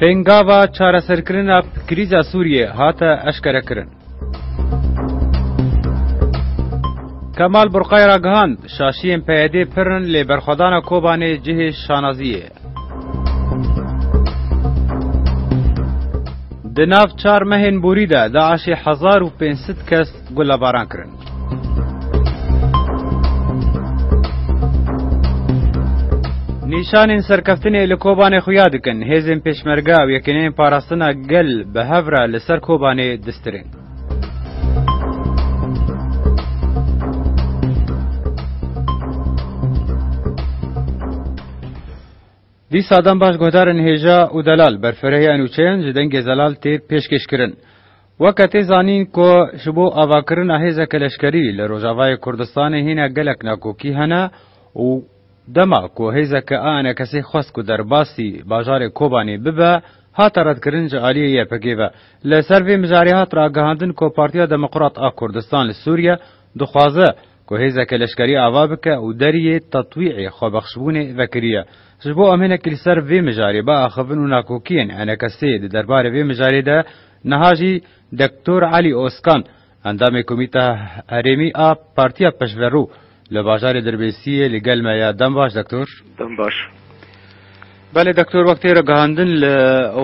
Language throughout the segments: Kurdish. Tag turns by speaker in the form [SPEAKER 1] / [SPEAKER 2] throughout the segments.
[SPEAKER 1] Pêngava çareserkirina krîza Sûriyê hate eşkerekirin. Kemal Burqay ragihand, Şaşiyên PYD'ê pir in lê berxwedana Kobanê cihê şanazî ye. Di nav çar mehên borî de DAIŞ'ê hezar û pênc sed kes gulebaran kirin. Nîşanên serkeftinê li Kobanê xuya dikin, hêzên Pêşmerge û Yekîneyên Parastina Gel bi hev re li ser Kobanê distirên. Dîsa dem baş guhdarên hêja û delal, berfirehîya nûçeyan ji dengê zelal tê pêşkêşkirin. Weke tê zanîn ku ji bo avakirina hêzeke leşkerî li Rojavayê Kurdistanê hîne gelek nakokî hene û dema ku hêzeke ANKSê xwest ku derbasî bajarê Kobanê bibe, hate redkirin ji aliyê YPG'ê ve. Li ser vê mijarê hat ragihandin ku Partiya Demokrat a Kurdistan li Sûriye dixwaze Ku hêzeke leşkerî ava bike û deriyê tetwî'ê xwebexşbûnê vekiriye. Ji bo amênekî li ser vê mijarê biaxivin û nakokiyên enekesê di derbarê vê mijarê de niha jî Doktor Elî Ozkan, endamê Komîta Herêmî a Partiya Peşverû li bajarê Dirbêsiyê li gel me ye. Dem baş Doktor. Dem baş. Belê Doktor wek tê ragihandin li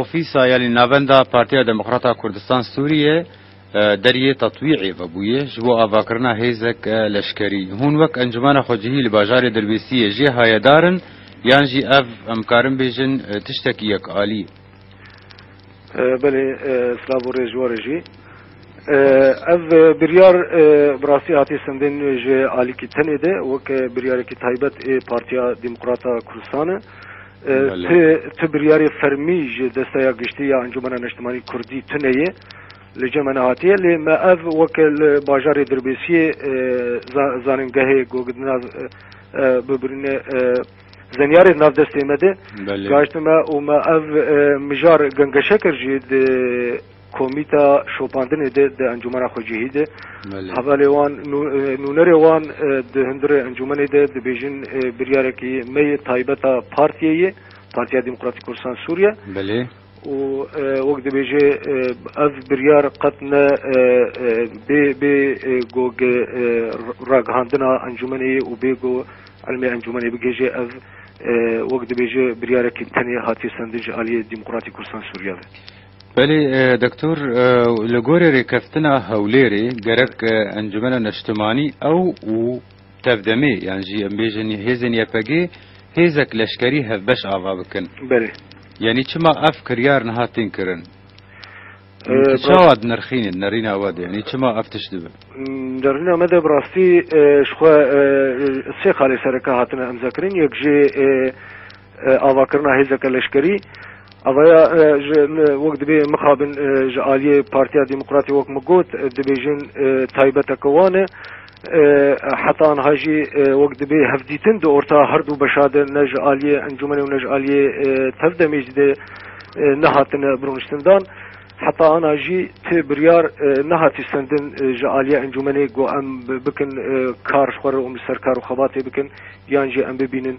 [SPEAKER 1] ofîsa yanî navenda Partiya Demokrata Kurdistan Sûriyê, Deriyê Tatwî'ê vebûye ji bo avakirina hêzek leşkerî. Hûn wek encumana xwecihî li bajarê Dirbêsiyê jê hayedar in yan jî ev em karin bêjin tiştekî yek alî ye? Belê silav û rêz ji we re jî. Ev biryar bi rastî hatiye sendên nû ji alîkî tenê de wek biryarekî taybet ê Partiya Demokrata Kurdistane. Ti ti biryarê fermî ji Desteya Giştî ya Encûmena Neştimanî Kurdî tune ye li cem me nehatiye lê me ev weke li bajarê Dirbêsiyê zanîngehê gogdina bibirîne zenyarê di nav destê me de gaştime û me ev mijar gengeşekir jî di Komîta şopandinê de di encûmena xwe cihî de hevalê wan nûnerê wan di hundirê encûmenê de dibêjin biryarekî me yê taybet a partiyê yê, Partiya Demokratîk Kurdistan Sûriye û wek dibêje ev biryar qet ne bê bê go ragihandina encûmenê yê û bê go elmê encûmenê bigihêje ev wek dibêje biryarekî tenê hatiye sendin ji aliyê Demokratîk Kurdistan Sûriye ve. Belê Doktor, li gorî rêkeftina Hewlêrê gerek Encumena Neştimanî ew û tevdemê yan jî em bêjin hêzên YPG'ê hêzek leşkerî hevbeş ava bikin. Belê. Yanî çima ev kiryar niha tên kirin? Tu çawa dinirxînî nerîna we de? Yanî çima ev tişt dibe? Nerîna me de bi rastî ji xwe sê xalê sereke hatine imzekirin. Yek jî Avakirina hêzeke leşkerî avaya ji wek dibê mixabin ji aliyê Partiya Demokratê wek min got dibêjin taybeteke wan e. Heta niha jî wek dibê hevdîtin di orta herdû beşa de ne ji aliyê encûmenê û ne ji aliyê tev demê jî de nehatine birûniştindan. Heta ana jî ti biryar nehatiye sendin ji aliyê encûmenê ku em bikin kar ji xwe re û li ser kar û xebatê bikin yan jî em bibînin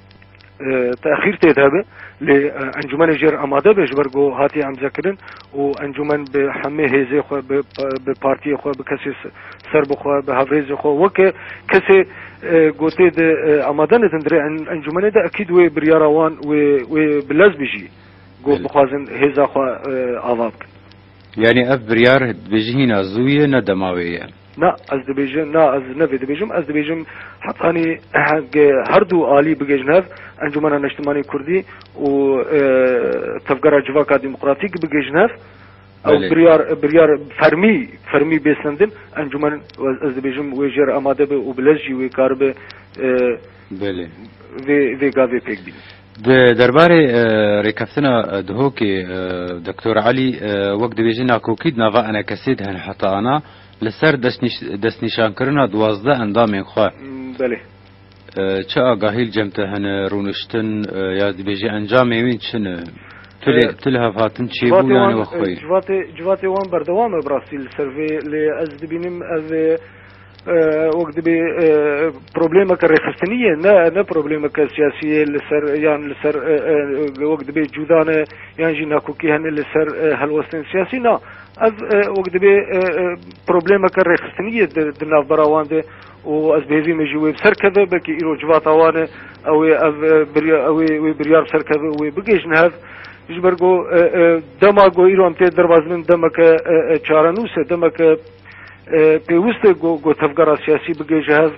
[SPEAKER 1] Texîr tê de be lê encûmenê jêr amade be ji ber ku hatiye emzekirin û encûmen bi hemê hêzê xwe bi partiyê xwe bi kesê ser bi xwe bi hevrêzê xwe weke kesê gotê di amade nedin dirê encûmenê de ekîd wê biryara wan wê wê bi lez bijî ku bixwazin hêza xwe ava bikin. Yanî ev biryar dibêjî hîna zû ye ne dema wê ye? Na, ez dibêjim na ez ne vê dibêjim. Ez dibêjim hetanî hingê her du alî bigihîjin hev, Encûmena Neştimanî Kurdî û Tevgera Civaka Demokratîk bigihîjin hev. Ew biryar biryar fermî fermî bê sendin encûmen ez dibêjim wê jêr amade be û bi lez jî wê karibe vê vê gavê pêk bîne. Di derbarê rêkeftina Duhokê Doktor Elî wek dibêje nakokî di nava enekesê de hilhata ana li ser destnîşankirina duwazdeh endamên xwe. Belê. Çi agahî li cem te hene, rûniştin ya dibêje encamên wîn çi ne? Tu li hevhatin çêbû yanî wexweyî? Civatê wan berdewam e bi rastî li ser vê lê ez dibînim ev Wek dibê problemeke rêxistinî ye ne ne problemeke siyasî ye li ser yan li ser wek dibê cûda ne yan jî nakokî hene li ser helwestên siyasî na ev wek dibê problemeke rêxistinî ye di navbera wan de û ez bi hêvî min jî wê bi ser keve belkî îro civata wan e ew ê ev ew ê wê biryar bi ser keve û wê bigihîjin hev ji ber ku dema ku îro em tê derbas bin demeke çarenûs e demeke Pêwist e ku ku tevgera siyasî bige ji hev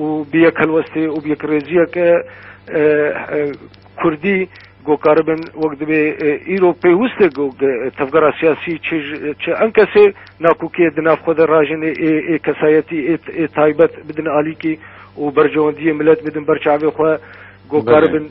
[SPEAKER 1] û bi yek helwestê û bi yekrêziyeke Kurdî ku karibin wek divê îro pêwist e ku ku tevgera siyasî çi çi em kesê nakokiyê di nav xwe de rajêne ê ê kesayetî ê ê taybet bidin alîkî û berjewendiyê milet bidin ber çavê xwe ku karibin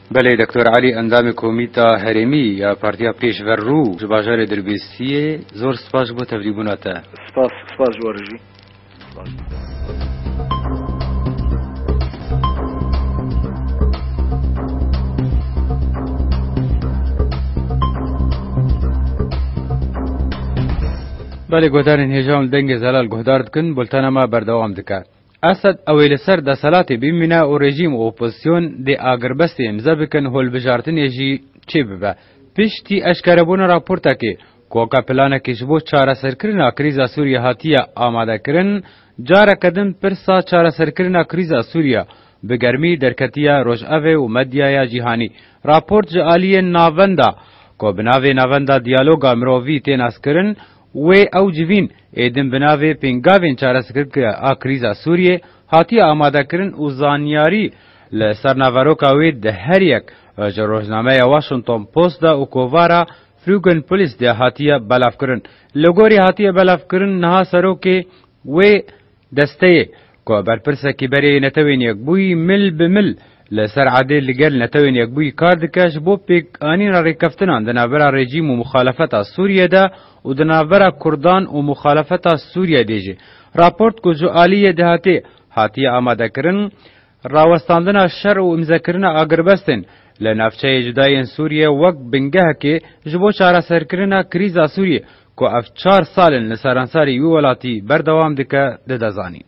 [SPEAKER 1] Belê Doktor Elî endamê Komîta Herêmî ya Partiya Pêşver Rû ji bajarê Dirbêstî yê. Zor spas ji bo tevlîbûna te. Spas, spas ji we re jî. Spas ji te. Belê guhdarên hêja û li dengê zelal guhdar dikin, bultena me berdewam dike. Esed ew ê li ser deselatê bimîne û rejîm û opozîsyon dê agirbestê îmze bikin holbijartinê jî çê bibe. Piştî eşkerebûna raportekê ku weke planekê ji bo çareserkirina krîza Sûriyê hatiye amadekirin, careke din pirsa çareserkirina krîza Sûriyê bi germî derketiye rojevê û medyaya cîhanî. Raport ji aliyên Navenda ku bi navê Navenda Diyaloga Mirovî tên eskkirin wê ew civîn, Êdîm bi navê Pêngavên Çareserkirkê a Krîza Sûriyê hatiye amadekirin û zanyarî li ser naveroka wê di her yek ji rojnameya Washington Post de û kovara Frugen Polis de hatiye belavkirin. Li gorî hatiye belavkirin niha serokê wê, Desteyê, ku berpirsekî berê yê Netewên Yekbûyî mil bi mil li ser erdê li gel Netewên Yekbûyî kar dike ji bo pêkanîna rêkeftinan di navbera rejîm û muxalefeta Sûriyê de û di navbera Kurdan û muxalefeta Sûriyê de jî raport ku ji aliyê dihatê hatiye amadekirin Rawestandina şer û îmzekirina agirbestên li navçeyê cuda yên Sûriyê wek bingehekê ji bo çareserkirina krîza Sûriyê ku ev çar sal in li seransarî wî welatî berdewam dike dide zanîn.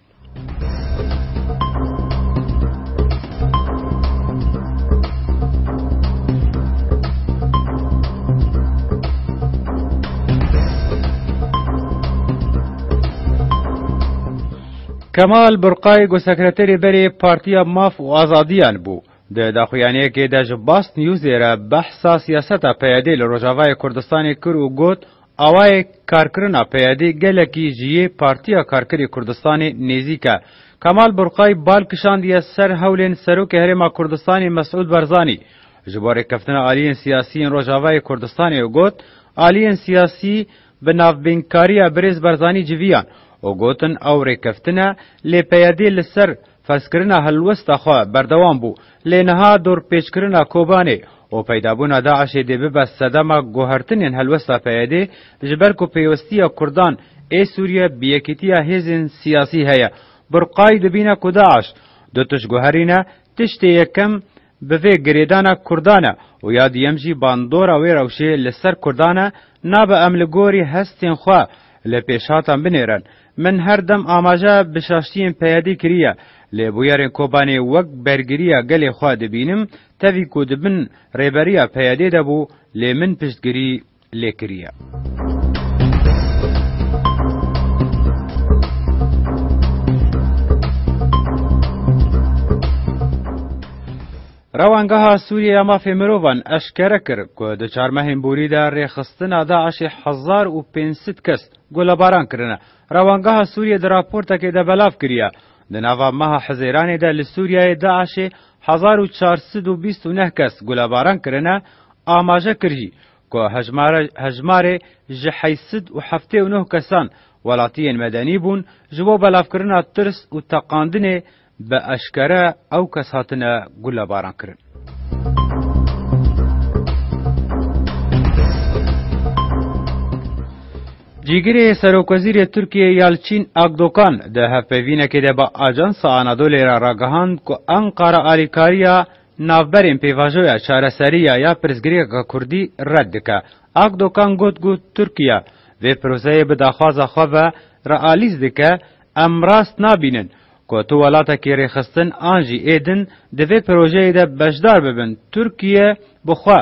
[SPEAKER 1] Kemal Burqay ku sekreterê berê Partiya Maf û Azadiyan bû, di daxuyaniyekê de ji Basnewsê re behsa siyaseta PYD'ê li Rojavayê Kurdistanê kir û got, Awayê karkirina PYD gelekî ji yê Partiya Karkerê Kurdistanê nêzîk e. Kemal Burqay bal kişandiye ser hewlên Serokê Herêma Kurdistanê Mesûd Barzanî ji bo rêkeftina aliyên siyasî yên Rojavayê Kurdistanê û got, Aliyên siyasî Bi navbînkariya Birêz Barzanî civiyan û gotin ew rêkeftin e, lê PYD li ser ferzkirina hilwesta xwe berdewam bû, lê niha dorpêçkirina Kobanê û peydabûna DAIŞ'ê dê bibe sedema guhertinên helwesta PYD, ji ber ku pêwestiya Kurdan ê Sûriye bi yekîtiya hêzên siyasî heye. Burqayî dibîne ku DAIŞ du tişt guherîne, tiştê yekem Bi vê girêdana Kurdan e û ya duyem jî bandora wê rewşê li ser Kurdan e, nabe em li gorî hestên xwe li pêşhatan binêrin. Min her dem amaje bi şaştiyên PYD'ê kiriye, lê bûyerên Kobanê wek bergiriya gelê xwe dibînim, tevî ku di bin rêberiya PYD'ê de bû, lê min piştgirî lê kiriye. Rewangeha Sûriyê ya Mafê Mirovan eşkere kir ku di çar mehên borî de rêxistina DAIŞ'ê hezar û pênc sed kes golebaran kirine. Rewangeha Sûriyê di raportekê de belav kiriye, di nava meha Hizêranê de li Sûriyeyê DAIŞ'ê hezar û çar sed û bîst û neh kes golebaran kirine Amaje kir jî ku hejmara hejmarê ji heşt sed û heftê û neh kesan welatiyên medenî bûn ji bo belavkirina tirs û teqandinê bi eşkere ew kes hatine gulebarankirin. Cîgirê Serokwezîrê Tirkiyeyê Yalçîn Akdokan di hevpeyvînekê de bi Ajansa Anadolê re ragihand ku Enqara alîkariya Navberên pêvajoya çareseriya ya pirsgirêka kurdî red dike. Akdokan got ku Tirkiye vê proseyê bi daxwaza xwe ve re alîz dike, Em rast nabînin ku tu welatekî rêxistin an jî êdin di vê projeyê de beşdar bibin. Tirkiye bi xwe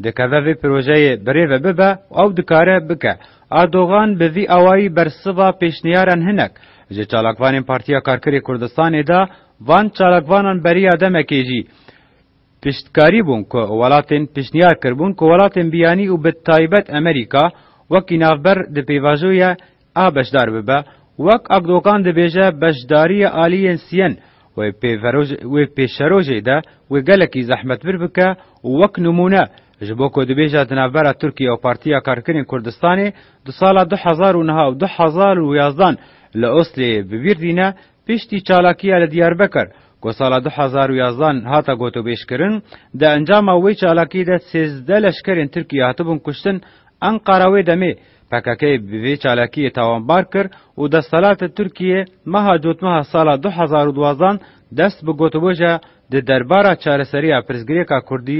[SPEAKER 1] dikeve vê projeyê bi rê ve bibe û ew dikare bike. Erdogan bi vî awayî bersiva pêşniyaran hinek ji çalakvanên Partiya Karkerê Kurdistanê da Van çalakvanan beriya demekê jî piştkarî bûn ku welatên pişniyar kiribûn ku welatên biyanî û bi taybet Amerîka wekî navber di pêvajoya a beşdar bibe. Wek Akdogan dibêje beşdariya aliyên siyen wê wê pêşerojê de wê gelekî zehmetbir bike û wek nimûne ji bo ku dibêje di navbera Tirkiye û Partiya Karkerên Kurdistanê di sala du hezar û niha û du hezar û yazdan li Oslêyê bibîrdîne Piştî çalakiya li Diyarbekir ku sala du hezar û yazdan hate gotûbêjkirin, di encama wê çalakiyê de sêzdeh leşkerên Tirkiyê hatibûn kuştin, Enqara wê demê PKK'ê bi vê çalakiyê tawanbar kir û desthilatê Tirkiyê meha cotmeha sala du hezar û duwazddan dest bi gotûbêja di derbara çareseriya pirsgirêka kurdî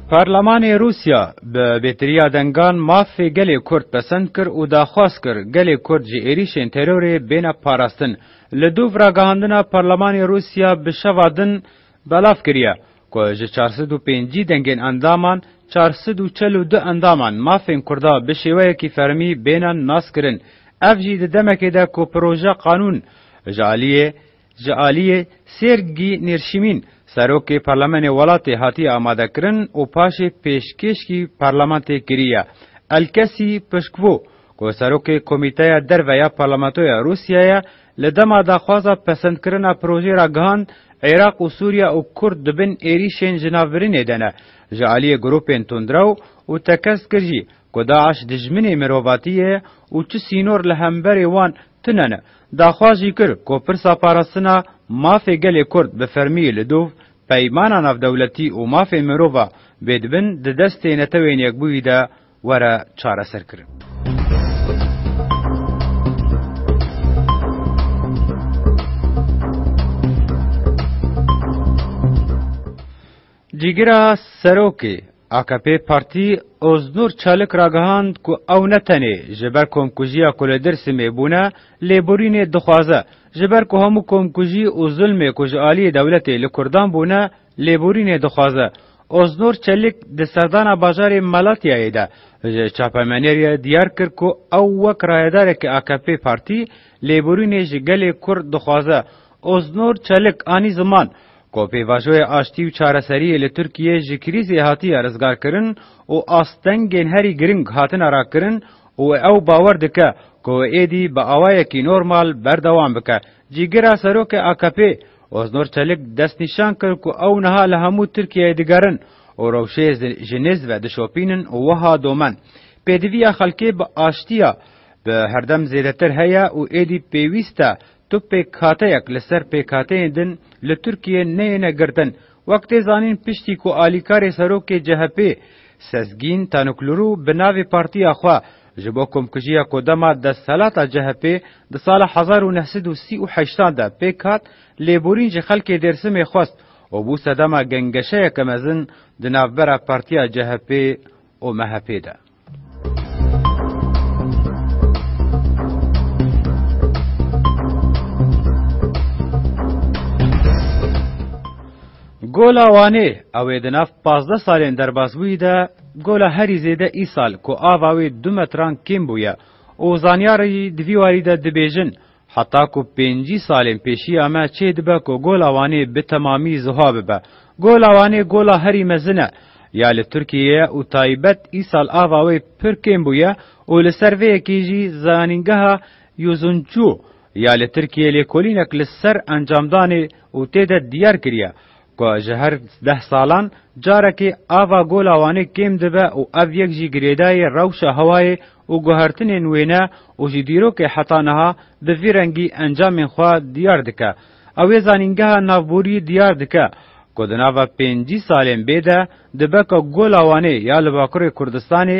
[SPEAKER 1] Parlemanê Rûsya bi bêtiriya dengan mafê gelê Kurd pesend kir û daxwaz kir gelê Kurd ji êrîşên terorê bêne parastin. Li dûv ragihandina parlemanê Rûsya bi şeva din belav kiriye ku ji çar sed û pêncî dengên endaman çar sed û çel û du endaman mafên Kurda bi şêweyekî fermî bêne naskirin. Ev jî di demekê de ku proje qanûn ji aliyê Ji aliyê Sêrgî Nêrşîmîn, Serokê Parlemenê welatê hatiye amadekirin û paşê pêşkêşkî Parlementê kiriye. Elkesî pişkbû ku Serokê Komîteya Derve ya Parlamentoya Rûsyayê li dema daxwaza pesendkirina projeyê ra gihand, Iraq û Sûriye û Kurd di bin êrîşên ji navbirînê de ne. Ji aliyê grûpên tundrew û tekez kir jî ku DAIŞ dijminê mirovatiyê ye û çi sînor li hemberê wan Tunene, daxwaz jî kir ku pirsa parastina mafê gelê Kurd bi fermî li dûv peymana navdewletî û mafên mirov a bê di bin di destê Netewên Yekbûyî de were çareserkirin. Cîgira serokê akp partî Oznur Çalik ragihand ku ew ne tenê ji ber komkujiya ku li Dêrsimê bûne lêborînê dixwaze, ji ber ku hemû komkujî û zulmê ku ji aliyê dewletê li Kurdan bûne lêborînê dixwaze. Oznur Çalik di serdana bajarê Malatyayê de ji çapemenêrê diyar kir ku ew wek rayedarekî akp partî lêborînê ji gelê Kurd dixwaze Oznur Çelik anî ziman ku pêvajoyê aştî û çareseriyê li Tirkiyeyê ji krîzê hatiye rizgarkirin û astengên herî giring hatine rakirin û ew bawer dike ku wê êdî bi awayekî normal berdewam bike. Cîgira Serokê AKP'ê Oznur Çelik destnîşan kir ku ew niha li hemû Tirkiyeyê digerin û rewşê ji nêz ve dişopînin û wiha domen, Pêdiviya xelkê bi aştiya bi herdem zêdetir heye û êdî pêwîst e Tu pêkhateyek li ser pêkhateyên din li Tirkiyê neyêne girtin. Wek tê zanîn piştî ku alîkarê serokê CHP'ê Sezgîn Tanûklurû bi navê partiya xwe ji bo komkujiya ku dema desthelata CHP'ê di sala hezar û neh sed û sî û heşt an de pêk hat, lêborîn ji xelkê Dêrsimê xwest û bû sedema gengeşeyeke mezin di navbera partiya CHP'ê û MHP'ê de. Gola Wanê, ew ê di nav pazdeh salên derbasbûyî de gola herî zêde îsal ku ava wê du metran kêm bûye û zanyarî di vî warî de dibêjin Heta ku pêncî salên pêşiya me çê dibe ku Gola Wanê bi temamî ziha bibe. Gola Wanê gola herî mezin e ya li Tirkiyeyê ye û taybet îsal ava wê pir kêm bûye û li ser vê yekê jî Zanîngeha Yuzuncu ya li Tirkiyeyê lêkolînek li ser encamdanê û tê de diyar kiriye Ku ji her deh salan carekê ava Gola Wanê kêm dibe û ev yek jî girêdayê rewşa hewayê û guhertinên wê ne û ji dîrokê heta niha bi vî rengî encamên xwe diyar dike. Ew ê zanîngeha navborî diyar dike ku di nava pêncî salên bê de dibe ku Gola Wanê ya li Bakurê Kurdistanê,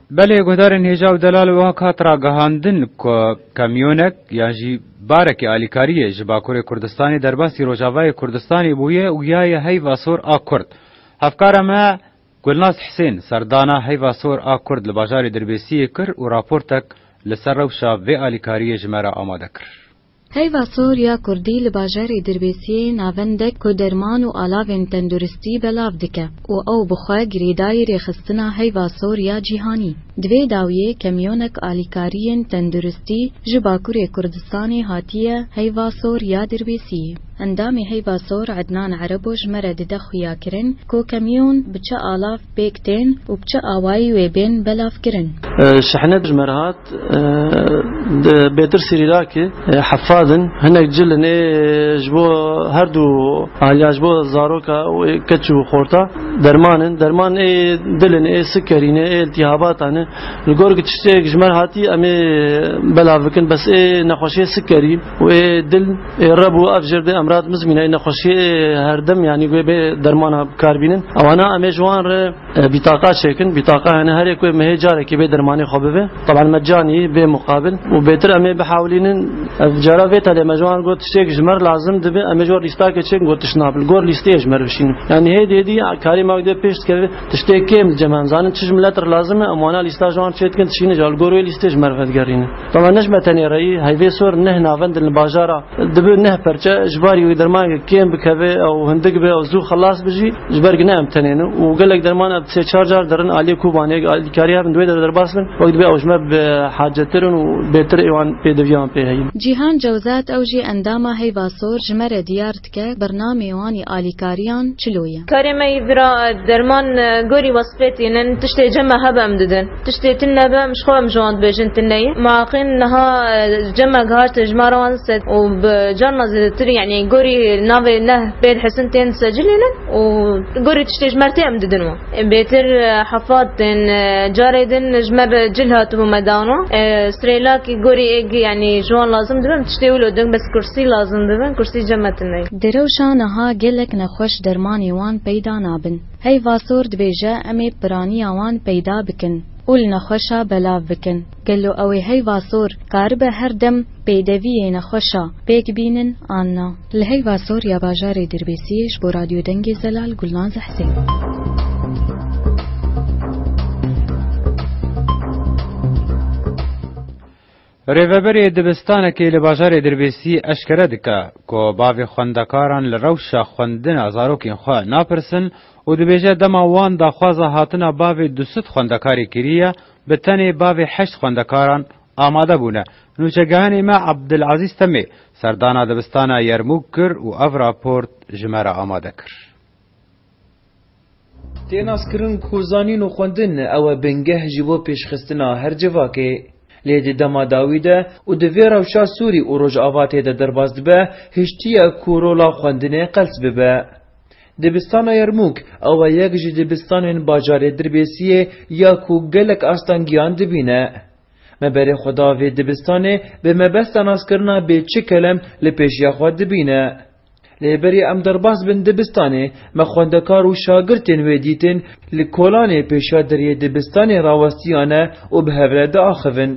[SPEAKER 1] Belê guhdarên hêja û delal wek hat ragihandin ku kamyonek yan jî barekî alîkariyê ji Bakurê Kurdistanê derbasî Rojavayê Kurdistanê bûye û giyaye Heyva Sor a Kurd. Hevkara me Gulnaz Hisên serdana Heyva Sor a Kurd li bajarê Dirbêsiyê kir û raportek li ser rewşa vê alîkariyê ji me re amade kir. Heyva sor ya kurdî li bajarê Dirbêsiyê navendek ku derman û alavên tenduristî belav dike û ew bi xwe girêdayî rêxistina heyva sor ya cîhanî. Di vê dawiyê kamyonek alîkariyên tenduristî ji Bakurê Kurdistanê hatiye heyva sor ya Dirbêsiyê. Endamê heyva sor Ednan Erebo ji me re dide xuyakirin ku kamyon bi çi alav pêk tên û bi çi awayî wê bên belavkirin. Şehnet ji me re hat Di Bêtirsî Rîrakê hefad in. Hinek cil in ê ji bo her du aliya ji bo zaroka wê keç û xorta derman in. Derman ê dil in, ê sikerî ne, ê îltîhabata ne. Li gor ku tiştêk ji me re hatî em ê belav bikin bes ê nexweşiyê sikerî û ê dil ê reb û ev jê re dê em rat bizmîne. Ê nexweşiyê ê herdem yanî wê bê dermana bikarbînin. Ewana em ê ji wan re. Bîtaqa çêkin, bîtaqa hene herê ku me hê carekê bê dermanê xwe bibe. Taban mecanî bê muqabil û bêtir em ê bihewlînin. Ev cara vê telê me ji wan got tiştêk ji me re lazim dibe em ê ji wan lîstakê çêkin got tişt nabe li gor lîsteyê ji me re bişînin. Yanî hê dê dî karê me wek dê pêş dikeve tiştê kêm li cem em zanin çi ji milet re lazim e em wana lîsta ji wan çê dikin dişînin ji wan li gor wê lîstê ji me re vedigerînin. Taban ne ji me tenê re yî heyvê sor neh navendin li bajara Dibi neh perçe ji barî wê dermanekê kêm bikeve ew hindik be ew zû xelas bi jî ji ber ku ne em tenê ne û gelek derman ev sê çar car derin aliyê Kobanê eger alîkarî hebin di wê derê derbas bin wek dibe ew ji me bi hacetir in û bêtir êwan pêdiviyan pê heye. Cîhan Cewzat ew jî endama Heyva Sor ji me re diyar dike bernameyê wan yê alîkariyan çilo ye. Karê me yî vira derman gorî wesfê tînin, tiştê cem me hebe em didin. Tiştê tine be em ji xwe em ji wan dibêjin tine yî. Ma qîn niha cem me gihart ji ma re wan sed û bi carna zêdetir yanî gorî navê neh pê dihesin tên secilînin û gorî tiştê ji mer tê em didin wan. Bêtir hefat tên carê din ji me re cil hatibû me dan wan. Sirêlakî gorî êg yanî ji wan lazim dibe em tiştê wilo din bes kursî lazim dibin kursî cem me tine yî. Di rewşa niha gelek nexweş dermanê wan peyda nabin. Heyva sor dibêje em ê piraniya wan peyda bikin û li nexweşa belav bikin. Gelo ew ê heyva sor karibe her dem pêdeviyê nexweşa pêk bînin an na? Li heyva sor ya bajarê Dirbêsiyê ji bo Radyo Dengê Zelal Gulnaz Hesên. Rêveberê dibistanekê li bajarê Dirbêsî eşkere dike ku bavê xwendekaran li rewşa xwendina zarokên xwe napirsin û dibêje dema wan daxwaza hatina bavê du sed xwendekarê kiriye bi tenê bavê heşt xwendekaran amade bûne. Nûçegehanê me Abdilezîz Temê serdana dibistana Yermûk kir û ev raport ji me re amade kir. Tê naskirin ku zanîn û xwendin ew e bingeh ji bo pêşxistina her civakê. Lê di dema dawî de û di vê rewşa Sûrî û Rojavatê de derbas dibe, hiştiye ku rola xwendinê qels bibe. Dibistana Yermûk ew e yek ji dibistanên bajarê Dirbêsiyê ya ku gelek astangiyan dibîne. Me berê xwe da vê dibistanê bi mebesta naskirina bê çi kelem li pêşiya xwe dibîne. Lê berî em derbas bin dibistanê, me xwendekar û şagirtên wê dîtin li kolanê pêşiya deriyê dibistanê rawestiyane û bi hev re diaxivin.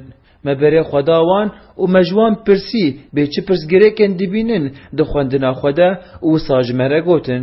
[SPEAKER 1] Me berê xwe da wan û me ji wan pirsî bê çi pirsgirêkên dibînin di xwendina xwe de û wisa ji me re gotin.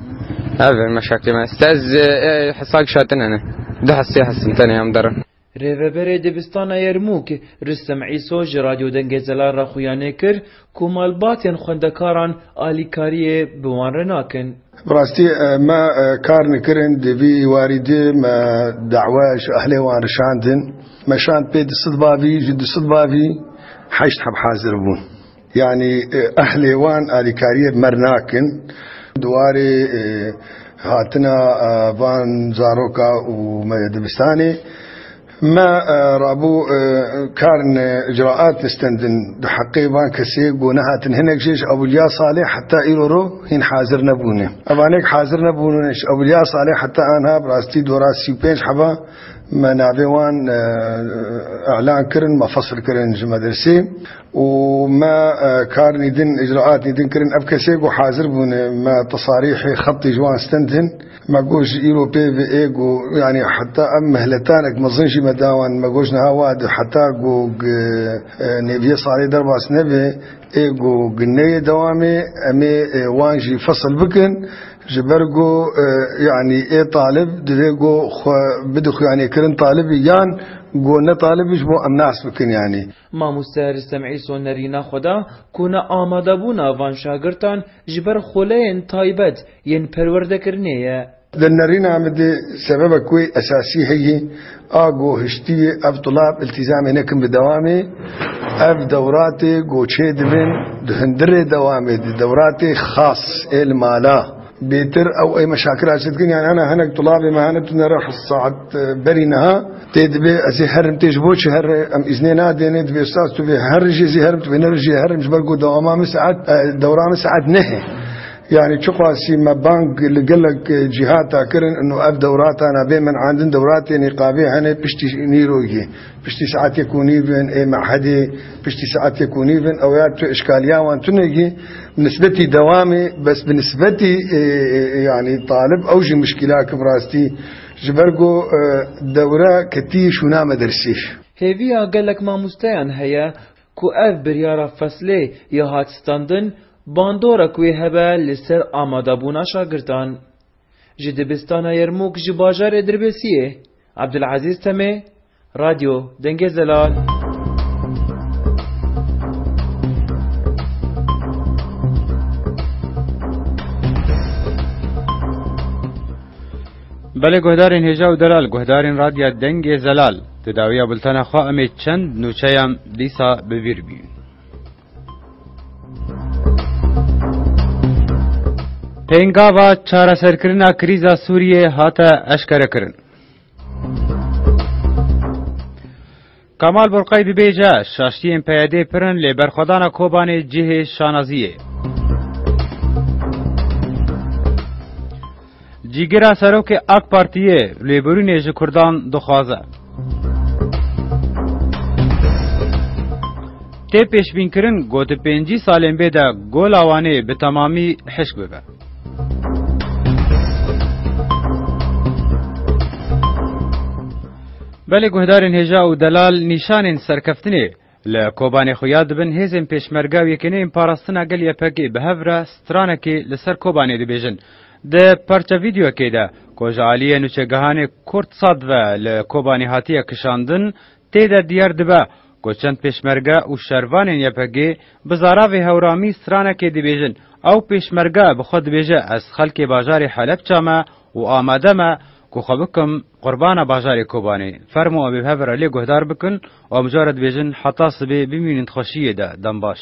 [SPEAKER 1] Ev in meşakê me. Site ez hesa kişatin hene. Du hes sê hes in tenê em derin. Rêveberê Dibistana Yermûk, Rûstem Îso ji Radyo Dengê Zelal re xuyanê kir ku malbatên xwendekaran alîkariyê bi wan re nakin. Bi rastî me kar nekirin, di vî warî de me dawa ji ahlê wan re şandin. Me şand pê du sed bavî, ji du sed bavî heşt heb hazir bûn. Yanî ehlê wan alîkariyê mer nakin. Di warê hatina van zaroka û dibistanê me rabû karin icraat distendin di heqê van kesê ku nehatin hinek jê ji Ewilya Saleh heta îro ro hîn hazir nebûne. Evanek hazir nebûne ji Ewilya Saleh heta anha bi rastî dora sî û pênc heba me navê wan elan kirin me fesil kirin ji medresê. û me karnî din, îcraatî din kirin. Ev kesê ku hazir bûne me tesarîhê xebtê ji wan stendin. Me got ji îro pê ve ê ku yanî heta em mihletanek mezin jî me da wan. Me got ji niha wa de heta ku nêvîyê salê derbas nebe ê ku neyê dewamê em ê wan jî fesil bikin. Ji ber ku yanî ê talib divê ku xwe bide xuyanê kirin talibî yan ku ne talibî ji bo em nas bikin yanî. Mamoste Ristem Îso nerîna xwe da ku neamadebûna van şagirtan ji ber xuleyên taybet yên perwerdekirinê ye. Di nerîna min de sebebek wê esasî heye, a ku hiştî ye ev tulab îltîzamê nekin bi dewamê. Ev dewratê ku çêdibin di hundirê dewamê di dewratê xas ê li mala. Bêtir ew ey me şakira çi dikin yani hene hinek dolabê me hene tu nere hest saet berî niha tê dibê ez ê herim tê ji bo çi herre em îznê nadêne divê stas tu vê her jê zî herim tu vê nere jê herim ji ber ku dewama min saet dewra min saet nehê yani çiqasî me bang li gelek cîhata kirin û ev dewratana bê min andin dewratê nîqabê hene piştî nîrogî Piştî saetêk û nîv in ê mehedê piştî saetêk û nîv in ew ya tu îşkaliya wan tunegî bi nisbetî dewamê bes bi nisbetî yanî talib ew jî muşkîla ki bi rastî ji ber ku dewre ketî şûna medersî. Hêviya gelek mamosteyan heye ku ev biryara feslê ya hatstandin bandorek wê hebe li ser amadebûna şagirdan. Ji dibistana Yermûk ji bajarê Dirbesiyê Abdulezîz Temê, Radyo Dengê Zelal. Belê guhdarên hêja û delal, guhdarên Radya Dengê Zelal, di dawiya bultena xwe em ê çend nûçeyan dîsa bi bîr bîn. Pêngava çareserkirina krîza Sûriyê hate eşkerekirin. Kemal Burqay dibêje şaştiyên PYD'ê pir in lê berxwedana Kobanê cihê şanaziyê. Cîgira Serokê AK Partiyê lêbirînê ji Kurdan dixwaze. Tê pêşbînkirin ku di pêncî salên bê de Gola Wanê bi temamî hişk bibe. Belê guhdarên hêja û delal nîşanên serkeftinê Li Kobanê xuya dibin hêzên Pêşmerga û Yekêneyên Parastina Gel YPG bi hev re stranekê li ser Kobanê dibêjin. Di parça vîdeoyekê de ku ji aliyê nûçegehanê Kurdsat ve li Kobanê hatiye kişandin, tê de diyar dibe ku çend Pêşmerge û şervanên YPG'ê bi zaravê hewramî stranekê dibêjin. Ew Pêşmerge bi xwe dibêje ez xelkê bajarê Helepça me û amade me ku xwe bikim Qurbana bajarê Kobanê, fermo ev ê hev re lê guhdar bikin û em care dibêjin heta sibê bimînin di xweşiyê de, dem baş.